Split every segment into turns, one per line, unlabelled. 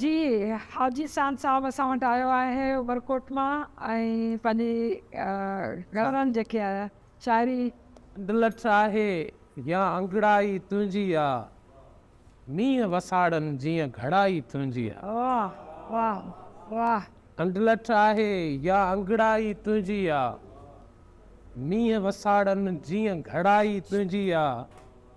جي حاجي سان صاحب اسان وٽ آيو آهي عمرڪوٽ مان ۽ پنهنجي گهرن جيڪي آهي شاعري. ڊلٺ
آهي يا انگڙائي تنهنجي آ مينهن وساڙن جيئن گهڙائي تنهنجي آ. واھ واھ
واھ. ڊلٺ
آهي يا انگڙائي تنهنجي آ مينهن وساڙن جيئن گهڙائي تنهنجي آ.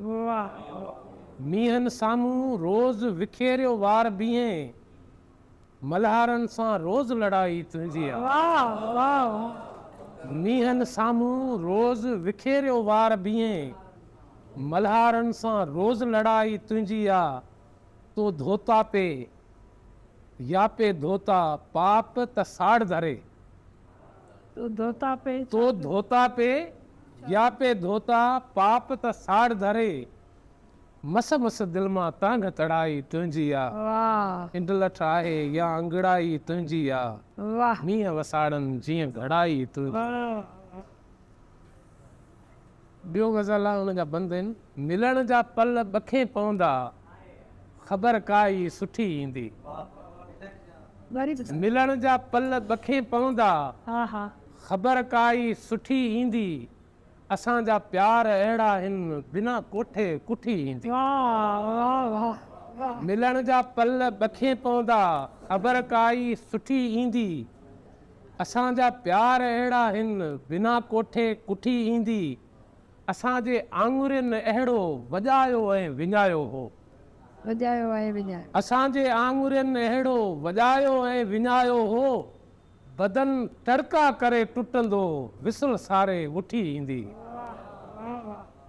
هئا.
مينهن
سامهون روز وکيريو وار بيهين. ملهارن سان روز لڙائي تنهنجي آ.
مينهن
سامهون روز وکيريو وار بيهين. ملهارن سان روز لڙائي تنهنجي آ. تو ڌوتا پي يا پي ڌوتا پاپ ته ساڙ ڌري.
تو ڌوتا پي تو ڌوتا پي
يا پي ڌوتا پاپ ته ساڙ ڌري مس مس دل مان تانگهه تڙائي تنهنجي آ انڊلٺ
آهي
يا انگڙائي تنهنجي آ مينهن
وساڙن
جيئن گهڙائي تنهنجي آ. ٻيو غزل آ ان جا بند آهن. ملڻ جا پل ٻکين پوندا، خبر ڪا ئي سٺي ايندي.
ملڻ جا
پل ٻکين پوندا،
خبر ڪا
ئي سٺي ايندي. اسان جا پيار اهڙا هن، بنا ڪوٺي ڪٺي ايندي.
ملڻ جا پل
ٻکين پوندا، خبر ڪا ئي سٺي ايندي. اسان جا پيار اهڙا هن بنا ڪوٺي ڪٺي ايندي اسان جي آڱرين اهڙو وڄايو ۽ وڃايو هو. وڄايو
۽ وڃايو. اسان جي آڱرين
اهڙو وڄايو ۽ وڃايو هو بدن ٽڙڪا ڪري ٽٽندو وسل ساري وٺي ايندي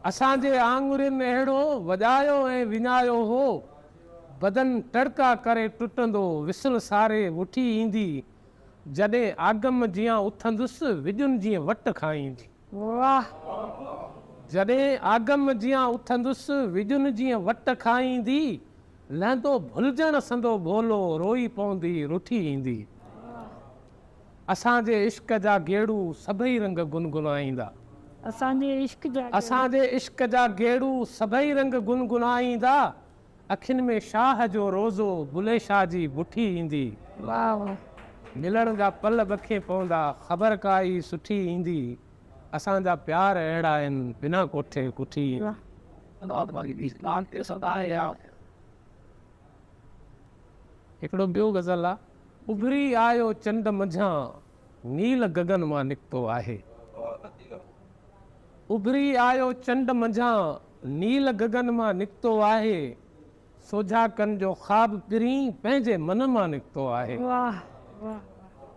اسان جي آڱرين اهڙو وڄايو ۽ وڃايو هو بدن ٽڙڪا ڪري ٽٽندو وسل ساري وٺي ايندي جڏهن آگم جيان اٿندس وڄن جيئن وٽ کائيندي. واھ. جڏهن آگم جيان اٿندس وڄن جيئن وٽ کائيندي لهندو ڀلجڻ سندو ڀولو روئي پوندي رٺي ايندي اسان جي عشق جا گيڙو سڀئي رنگ گنگنائيندا. اسان جي
عشق جا گيڙو. اسان جي عشق جا
گيڙو سڀئي رنگ گنگنائيندا. اکين ۾ شاهه جو روضو بلي شاهه جي بٺي ايندي.
ملڻ جا
پل ٻکي پوندا خبر ڪائي سٺي ايندي اسان جا پيار اهڙا آهن بنا ڪوٺي ڪٺي ايندي. هڪڙو ٻيو غزل آ. اڀري آيو چنڊ منجهان نيل گگن مان نڪتو آهي. اڀري آيو چنڊ منجهان نيل گگن مان نڪتو آهي. سوجها ڪن جو خواب پرين پنهنجي من مان نڪتو آهي.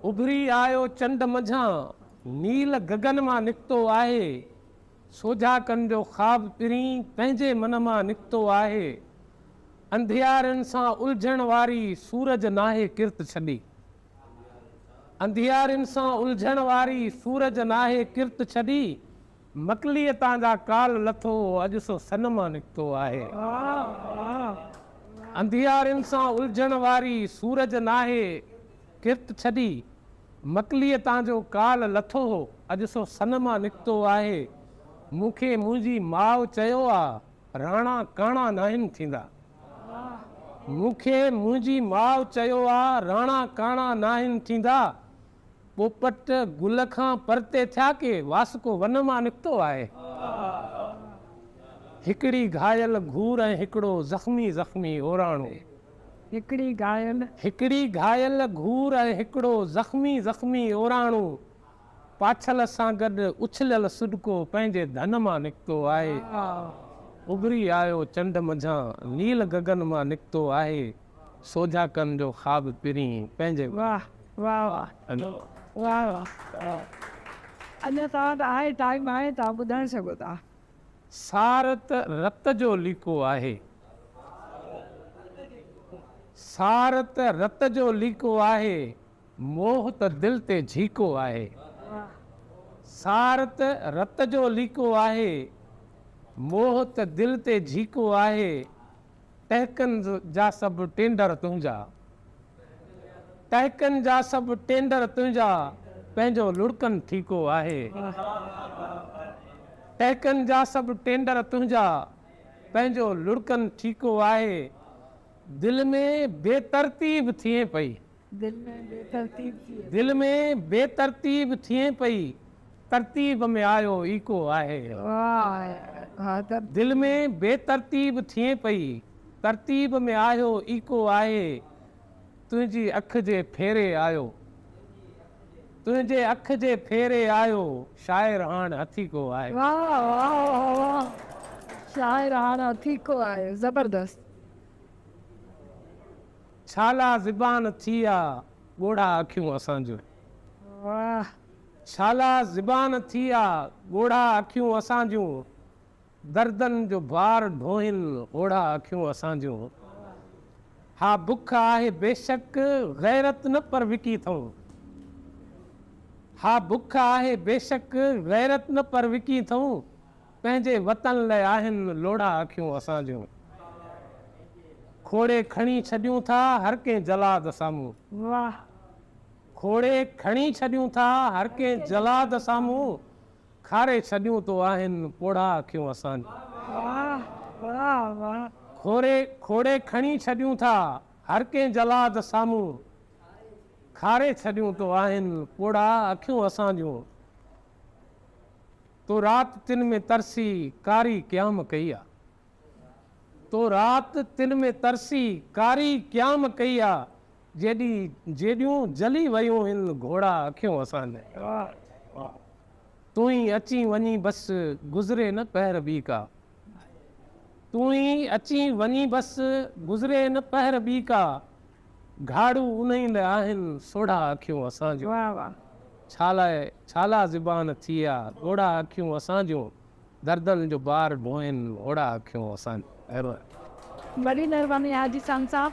اڀري آيو
چنڊ منجهان نيل گگن مان نڪتو آهي. سوجها ڪن جو خواب پرين پنهنجي من مان نڪتو آهي. انڌيارين سان الجهڻ واري سورج ناهي ڪرت ڇڏي. انڌيارين سان الجهڻ واري سورج ناهي ڪرت ڇڏي. مڪليء تان جا ڪالهه لٿو هو اڄ سو سن مان نڪتو آهي. انڌيارين سان الجهڻ واري سورج ناهي ڪرت ڇڏي، مڪليء تان جو ڪالهه لٿو هو اڄ سو سن مان نڪتو آهي. مون کي منهنجي ماء چيو آ، راڻا ڪاڻا ناهن ٿيندا. مون کي منهنجي ماء چيو آ، راڻا ڪاڻا ناهن ٿيندا. پوپٽ گل کان پرتي ٿيا ڪي واسڪو ون مان نڪتو آهي هڪڙي گهايل گهور ۽ هڪڙو زخمي زخمي اوراڻو هڪڙي
گهايل. هڪڙي گهايل
گهور ۽ هڪڙو زخمي زخمي اوراڻو پاڇل سان گڏ اڇليل سڏڪو پنهنجي ڌن مان نڪتو آهي اڀري آيو چنڊ منجهان نيل گگن مان نڪتو آهي. سوجها ڪن جو خواب پرين پنهنجي واهه
واهه واهه واهه اڃا توهان ته آهي ٽائيم آهي توهان ٻڌائي سگهو ٿا. سار
ته رت جو ليڪو آهي سار ته رت جو ليڪو آهي موهه ته دل تي جهيڪو آهي
سار
ته رت جو ليڪو آهي موهه ته دل تي جهيڪو آهي. ٽهڪن جا سڀ ٽينڊر تنهنجا. ٽهڪن جا سڀ ٽينڊر تنهنجا پنهنجو لڙڪن ٺيڪو آهي. ٽهڪن جا سڀ ٽينڊر تنهنجا پنهنجو لڙڪن ٺيڪو آهي. دل ۾ بي ترتيب ٿئين پئي.
دل ۾ بي
ترتيب ٿئي. دل ۾ بي ترتيب ٿئي پئي. ترتيب ۾ آيو ايڪو آهي.
دل ۾ بي
ترتيب ٿئي پئي. ترتيب ۾ آيو ايڪو آهي. تنهنجي اک جي ڦيري آيو. تنهنجي اک جي ڦيري آيو. شاعر هاڻ هٿيڪو آهي. واهه واهه
واهه واهه شاعر هاڻ هٿيڪو آهي
زبردست. ڇالا زبان ٿي آ ڳوڙها اکيون اسان جون. واھ.
ڇالا
زبان ٿي آ ڳوڙها اکيون اسان جون. دردن جو بار ڍوئين هوڙها اکيون اسان جون. ها بک آهي بيشڪ غيرت نه پر وڪي ٿئون. ها بک آهي بيشڪ غيرت نه پر وڪي ٿئون. پنهنجي وطن لئه آهن لوڙها اکيون اسان جون کوڙي کڻي ڇڏيون ٿا هر ڪنهن جلاد سامهون واهه کوڙي کڻي ڇڏيون ٿا هر ڪنهن جلاد سامهون کاري ڇڏيون تو آهن پوڙها اکيون اسان جون واهه
واهه واهه کوڙي
کوڙي کڻي ڇڏيون ٿا هر ڪنهن جلاد سامهون کاري ڇڏيون تو آهن پوڙها اکيون اسان جون. تو رات تن ۾ ترسي ڪاري قيام ڪئي آ تو رات تن ۾ ترسي ڪاري قيام ڪئي آ جيڏي جيڏيون جلي ويون هن گهوڙا اکيون اسان جي
تون ئي
اچين وڃين بس گذري نه پهر ٻي ڪا تون ئي اچين وڃين بس گذري نه پهر ٻي ڪا. گهاڙو انهي لاء آهن سوڙها اکيون اسان جون ڇا لاء ڇا لاء زبان ٿي آ ڳوڙها اکيون اسان جون دردن جو بار ڍوئين هوڙها
اکيون
اسان
جون.
وڏي
مهرباني
آهي جي
سان
صاحب.